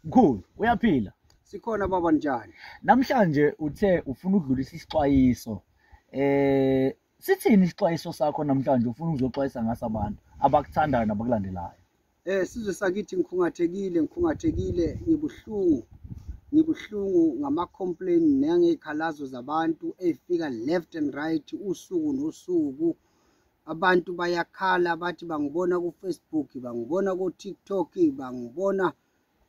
Mkhulu, uyaphila? Sikhona baba njani? Namhlanje uthe ufuna ukudlulisa isixwayiso. Eh sithini isixwayiso sakho namhlanje ufuna ukuzoxwayisa ngaso abantu abakuthandayo nabakulandelayo? Eh sizwe sakithi ngikhungathekile, ngikhungathekile, ngibuhlungu. Ngibuhlungu ngama complain nangezikhalazo zabantu efika left and right usuku nosuku. abantu bayakhala bathi bangibona ku-facebook bangibona ku-tiktok bangibona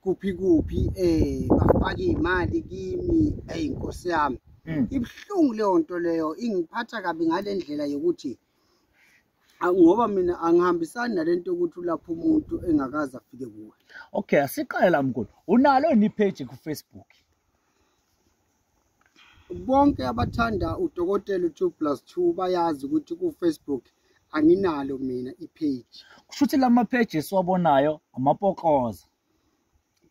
kuphi kuphi um bafake iy'mali kimi eyi nkosi yami hmm. ibuhlungu leyo nto leyo ingiphatha kabi ngale ndlela yokuthi ngoba mina angihambisani nale nto yokuthi ulapha umuntu engakaze afike kuwe okay asiqale la mkhulu unalo yini ipheji kufacebook bonke abathanda udokotela u2 plus 2 bayazi ukuthi kufacebook anginalo mina ipage kusho ukuthi lama page esiwabonayo amapokoza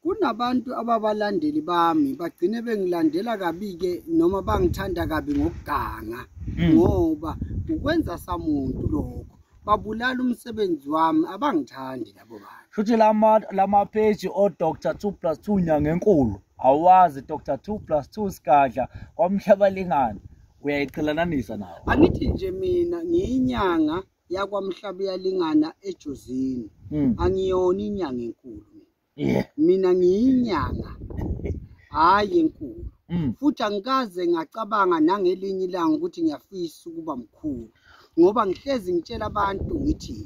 kunabantu ababalandeli bami bagcine bengilandela kabi-ke noma bangithanda kabi ngokuganga hmm. ngoba ukwenza samuntu lokho babulala umsebenzi wami abangithandi labo bantu shuthi lama lama page o Dr 2 plus 2 nyanga enkulu awazi Dr 2 plus 2 sigadla kwamhlaba lingani uyayiqhelananisa nawo angithi nje mina ngiyinyanga yakwamhlaba yalingana ejozini hmm. angiyona inyanga enkulu Yeah. mina ngiyinyanga hhayi enkulu Mm. futhi angikaze ngacabanga nangelinye ilanga ukuthi ngiyafisa ukuba mkhulu ngoba ngihlezi ngitshela abantu ngithi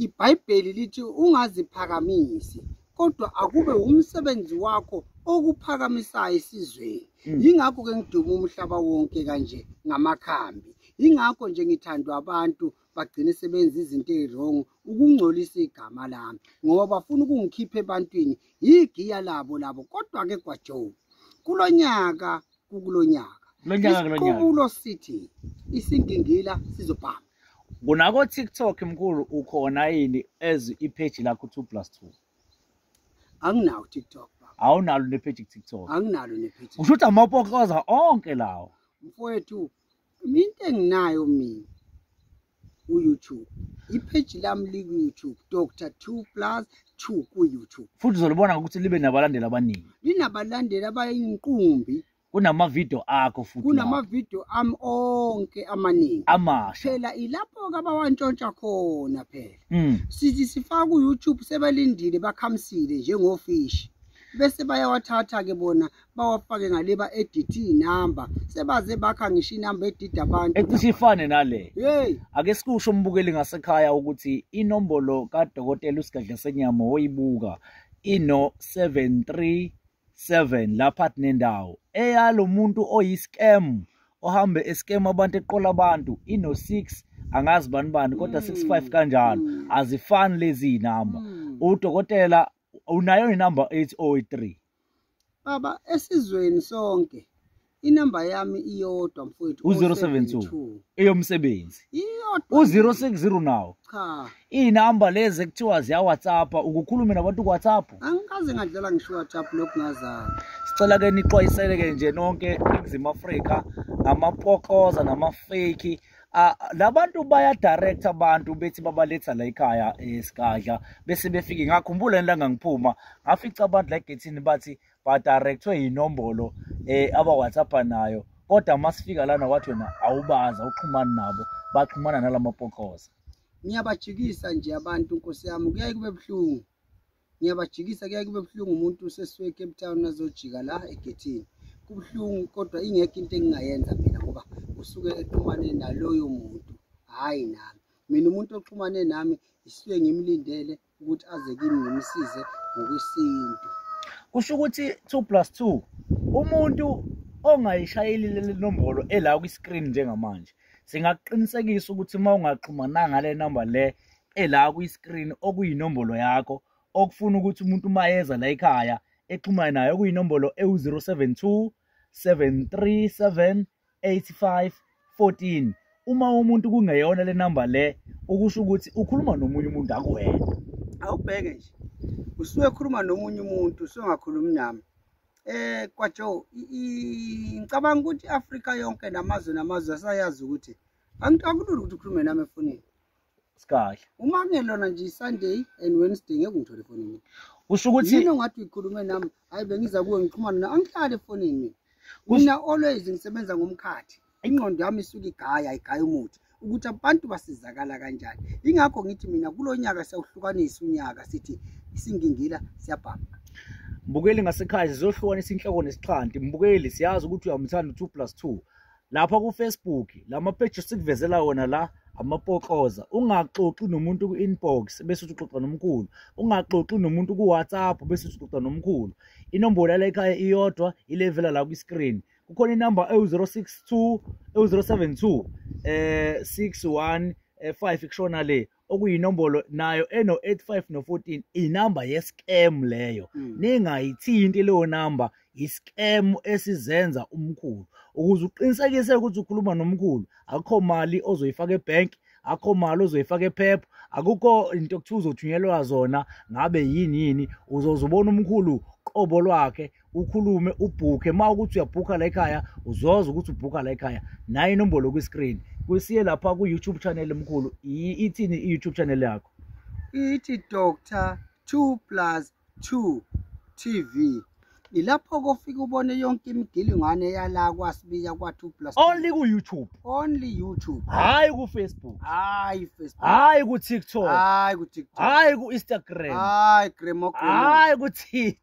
ibhayibheli lithi ungaziphakamisi kodwa akube wumsebenzi wakho okuphakamisayo esizweni Mm. yingakho-ke ngiduma umhlaba wonke kanje ngamakhambi yingakho nje ngithandwa abantu bagcine sebenza izinto ezirongo ukungcolisa igama lami ngoba bafuna ukungikhipha ebantwini yigiya labo labo kodwa ke gwajoe kulonyaka kukulonyaka isiqubulo sithi isingingila sizobhama kunako TikTok mkhulu ukhona yini as ipage lakho 2 plus 2 anginawo TikTok awunalo nepage TikTok anginalo nepage usho ukuthi amapokoza onke lawo mfowethu Into enginayo mina ku-YouTube. Ipage lami liku-YouTube Dr. 2 plus 2 ku-YouTube. Futhi uzolibona ngokuthi libe nabalandeli abaningi. Linabalandeli abayinqumbi. Kunamavideo akho futhi. Kunamavideo ami onke amaningi. Amasha. Phela ilapho ke abawantshontsha khona phela. Mm. Sithi sifaka ku-YouTube sebelindile bakhamsile njengofishi. bese bayawathatha-ke bona bawafake ngale ba edit inamba sebaze bakha ngisho inamba edid abantu ecishe ifane nale hey ake sikusho umbukeli ngasekhaya ukuthi inombolo kadokotela usigadla senyama oyibuka ino 737 lapha kunendawo eyalo muntu oyiscam ohambe escam abantu eqola abantu ino 6 angazi bani bani kodwa 65 hmm. kanjalo hmm. azifani lezi inamba hmm. udokotela unayo inamba 803 Baba esizweni sonke inamba yami iyodwa mfowethu u-072 eyomsebenzi iyodwa u-060 nawo cha iy'namba lezi ekuthiwa ziyawhatsapp ukukhulume nabantu kuwhatsapp angikaze ngadlala ngisho whatsapp lokhu ngazana sicela-ke nixwayisele-ke nje nonke eningizimu afrika ngamapokoza namafeki Ah, labantu baya direct abantu bethi babaletha la ekhaya esigadla eh, bese befike ngakhumbula yini la ngangiphuma ngafica abantu la egethini bathi ba directwe inombolo eh aba WhatsApp nayo kodwa masifika lana wathi wena awubaza uxhumana nabo baxhumana nalamapokoza ngiyabajikisa nje abantu nkosi yami kuyaye kube buhlungu ngiyabajikisa kuyaye kube buhlungu umuntu usesuke ecape town azojika la egethini kubuhlungu kodwa ingekho into engingayenza mina ngoba usuke exhumane naloyo muntu hhayi nami mina umuntu oxhumane nami ngisuke ngimlindele ukuthi aze kimi ngimsize ngokwesintu kusho ukuthi 2 plus 2 umuntu ongayishayeli leli nombolo ela kwi-screen njengamanje singakuqinisekisa ukuthi uma ungaxhumananga le number le ela kwi-screen okuyinombolo yakho okufuna ukuthi umuntu uma yeza la ekhaya exhumane nayo okuyinombolo ewu-072 737 85 14 uma umuntu kungeyona le namba le ukusho ukuthi ukhuluma nomunye umuntu akuwena awubheke nje usuke khuluma nomunye umuntu usuke ngakhulumi nami eh kwajo ngicabanga ukuthi iAfrika yonke namazwe namazwe asayazi ukuthi angikulula ukuthi ukhulume nami efonini sikahle uma kungelona nje isunday and wednesday ngeke ngithole foni mina usho ukuthi yini ongathi uyikhulume nami hayi bengiza kuwe ngixhumana na angihlale efonini mina mina always ngisebenza ngomkhathi ingqondo yami isuke igaya igaya umuthi ukuthi abantu basizakala kanjani ingakho ngithi mina kulo nyaka siyawuhlukanisa unyaka sithi isingingila siyabhama mbukeli ngasekhaya sizohlukanisa inhloko nesixhanti mbukeli siyazi ukuthi uyamthanda u-two plus two lapha kufacebook la mapeji sikuvezela wona la amapokoza ungaxoxi nomuntu ku-inbox bese uthi uxoxa nomkhulu ungaxoxi nomuntu ku-whatsapp bese uthi uxoxa nomkhulu inombolo yala ekhaya iyodwa ilevela la kwi-screen kukhona inamba ewu-062 ewu-072 um 61 um 5 kushona le okuyinombolo nayo eno-85 no-14 inamba ye-scam leyo mm. ningayithinti leyo namba yi-scam esizenza umkhulu ukuze uqinisekise ukuthi ukhuluma nomkhulu akho mali ozoyifaka ebhenki akho mali ozoyifaka ephepha akukho into okuthiwa uzothunyelwa zona ngabe yini yini uzoze ubona umkhulu qobo lwakhe ukhulume ubhukhe uma ukuthi uyabhukha la ekhaya uzoza ukuthi ubhukha la ekhaya naye inombolo kwi-screen kwesiye lapha ku-youtube channel mkhulu ithini i-youtube channel yakho ithi doctor two plus two tv ilapho kofika ubone yonke imigilingwane yala kwasibiya kwa-two plus only ku-youtube only youtube hhayi kufacebook hhayi facebook hhayi kutiktok hhayi kutiktok hhayi ku-instagram hhayi gramogramhhayi kutit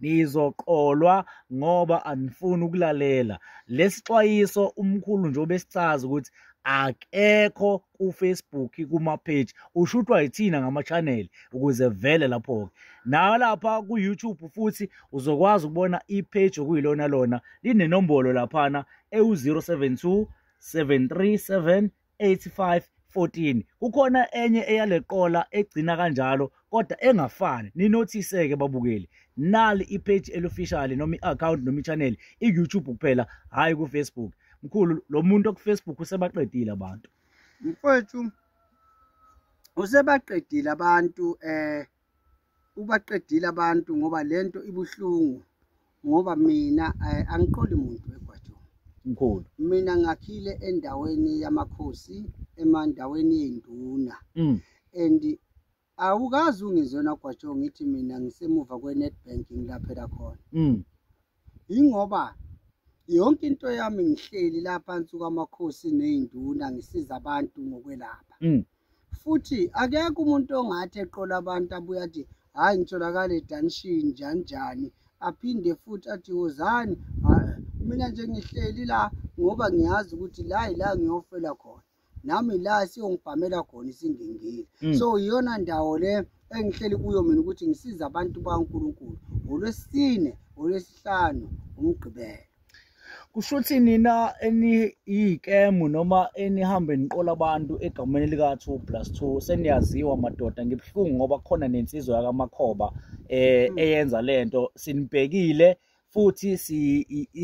nizoqolwa ngoba anifuni ukulalela lesixwayiso umkhulu nje obesicaza ukuthi akekho kufacebook kumapage ushutwa yithina ngama-channel ukuze vele lapho-ke nayo lapha ku-youtube futhi uzokwazi ukubona ipage okuyilona lona linenombolo laphana ewu-072 737 85 14 kukhona enye eyaleqola egcina kanjalo kodwa engafani ninothise-ke babukeli nali ipage elofficially noma i-account noma i-channel i-youtube kuphela hhayi kufacebook mkhulu lo muntu okufacebook usebaqedile abantu mfwethu usebaqedile abantu um eh, ubaqedile abantu ngoba lento ibuhlungu ngoba mina eh, angiqoli muntu egwajeni mkhulu mina ngakhile endaweni yamakhosi emandaweni yenduna mm. and awukazi ungizona gwajo ngithi mina ngisemuva kwe-netbank ngilaphela khona mm. yingoba yonke into yami ngihleli la phansi kwamakhosi ney'nduna ngisiza abantu ngokwelapha mm. futhi akekho umuntu ongathi eqola abantu abuye athi hhayi ngitholakale edanishini njani njani aphinde futhi athi wozani mina nje ngihleli la ngoba ngiyazi ukuthi la yila ngiyofela khona nami la siyongibhamela khona isingingile mm. so iyona ndawo le engihleli kuyo mina ukuthi ngisize abantu baNkulunkulu ngolwesine ngolwesihlanu umgqibelo kusho ukuthi nina eniyikemu noma enihambe niqola abantu egameni lika-two plus two seniyaziwa madoda ngibuhlungu ngoba khona nensizwa yakamakhoba um eyenza le nto sinibhekile futhi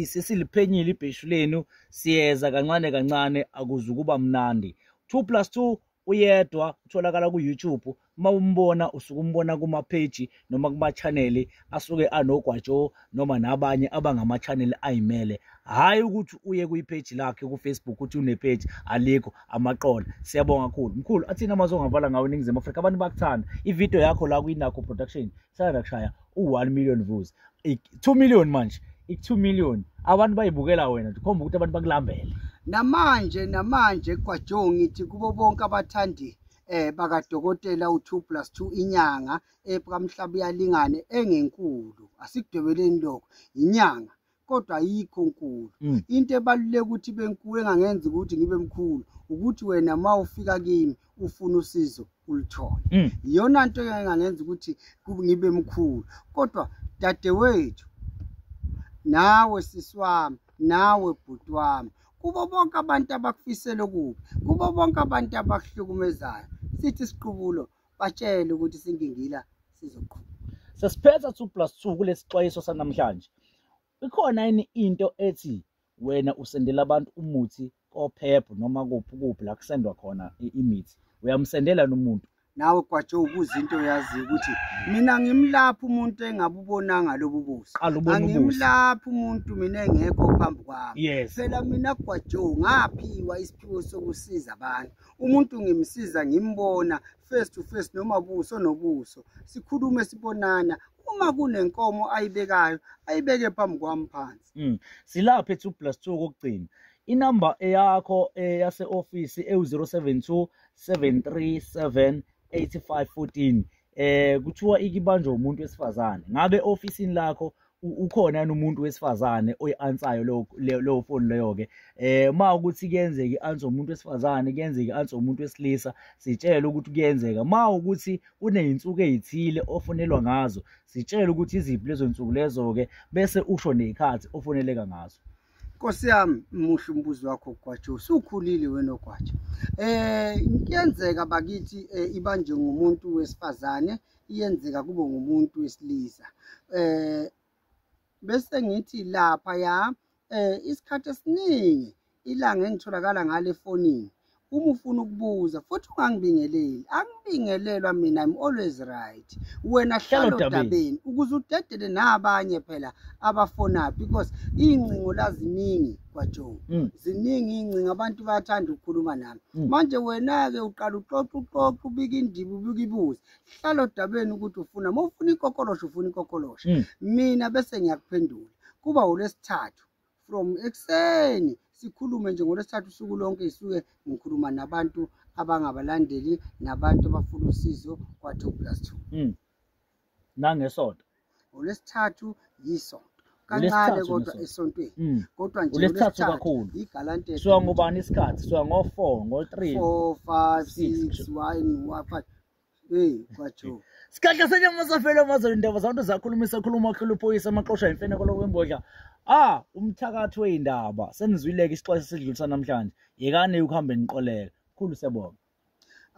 sesiliphenyile ibheshu lenu siyeza kancane kancane akuzukuba mnandi 2 plus 2 uyedwa utholakala ku-youtube uma umbona usuke umbona kumapheji noma kumachaneli asuke anogwatsho noma nabanye abangamachaneli ayimele hhayi ukuthi uye kwipheji lakhe kufacebook ukuthi unepheji alikho amaqola siyabonga kakhulu mkhulu athini amazwe ongavala ngawo eningizimu afrika abantu bakuthanda ividiyo yakho la kwinakho production sanda kushaya u-one million views two million manje i-two million abantu bayibukela wena ndikhomba ukuthi abantu bakulambele namanje namanje kwajo ngithi kubo bonke abathandi eh bakadokotela u2 plus 2 inyanga ekamhlaba yalingane engenkulu asikudwebeleni lokho inyanga kodwa ayikho nkulu mm. into ebaluleke ukuthi benkulu engangenza ukuthi ngibe mkhulu ukuthi wena uma ufika kimi ufuna usizo ulithole mm. iyona nto engangenza ukuthi ngibe mkhulu kodwa dadewethu nawe sisi wami nawe bhuti wami kubo bonke abantu abakufisela okubi kubo bonke abantu abakuhlukumezayo sithi siqubulo batshele ukuthi singingila sizoqhuba sesiphetha 2 plus 2 kulesixwayiso sanamhlanje ikhona yini into ethi wena usendela abantu umuthi kophepho noma kuphi kuphi la kusendwa khona imithi uyamsendela nomuntu nawe kwatsho ukuze into yazi ukuthi mina ngimlapha umuntu engabubonanga lobu buso angimlapha umuntu mina engekho phambi kwami phela mina kwatsho ngaphiwa isiphiwo sokusiza abantu umuntu ngimsiza ngimbona face to face noma buso nobuso sikhulume sibonana uma kunenkomo ayibekayo ayibeke phambi kwami phansi mm. silapha e2 plus 2 kokugcina inamba eyakho eyase eh, office ewu072 737 8514 eh kuthiwa ikibanjwa umuntu wesifazane ngabe ofisini lakho ukhona yini umuntu wesifazane oyi-ansayo leyo foni leyo-ke um ma ukuthi kuyenzeka i-ansa umuntu wesifazane kuyenzeka i-ansa umuntu wesilisa sitshele ukuthi kuyenzeka ma ukuthi kuney'nsuku ey'thile ofonelwa ngazo sitshele ukuthi iziphi lezo nsuku lezo-ke bese usho ney'khathi ofoneleka ngazo nkosi yami muhle umbuzo wakho gwajo usukhulile wena ogwajo um eh, kuyenzeka bakithi um ibanjwe ngumuntu wesifazane iyenzeka kube ngumuntu wesilisa eh bese ngithi lapha ya eh isikhathi esiningi ilanga engitholakala ngale efonini uma ufuna ukubuza futhi ungangibingeleli angibingelelwa mina i'm always right wena hlalo dabeni ukuze udedele nabanye phela abafona because iy'ngcingo laziningi kwajoe mm. ziningi iy'ngcingo abantu bayathanda ukukhuluma nami mm. manje wena-ke uqala uxoxa uxoxa ubika indiba ubika ibuzi hlala odabeni ukuthi ufuna uma ufuna ikokolosho ufuna ikokolosho mm. mina bese ngiyakuphendula kuba olwesithathu from ekuseni sikhulume nje ngolwesithathu usuku lonke isuke ngikhuluma nabantu abangabalandeli nabantu abafuna usizo kwa-two plus two mm. nangesonto ngolwesithathu yisonto kancane kodwa esontweni mm. kodwa nje ulesithathu kakhulu igalante suka ngubani isikhathi suka ngo-4 ngo-3 4 5 6 1 5 hey kwajo Sikhahle senye uMasafela amazolo indaba zabantu zakhuluma isakhuluma okhulu uphoyisa amaqosha imfene kolokwembodla ah umthakathi weyindaba senizwileke isixwayiso esidlulisa namhlanje yekani ukuhambe niqoleka khulu siyabonga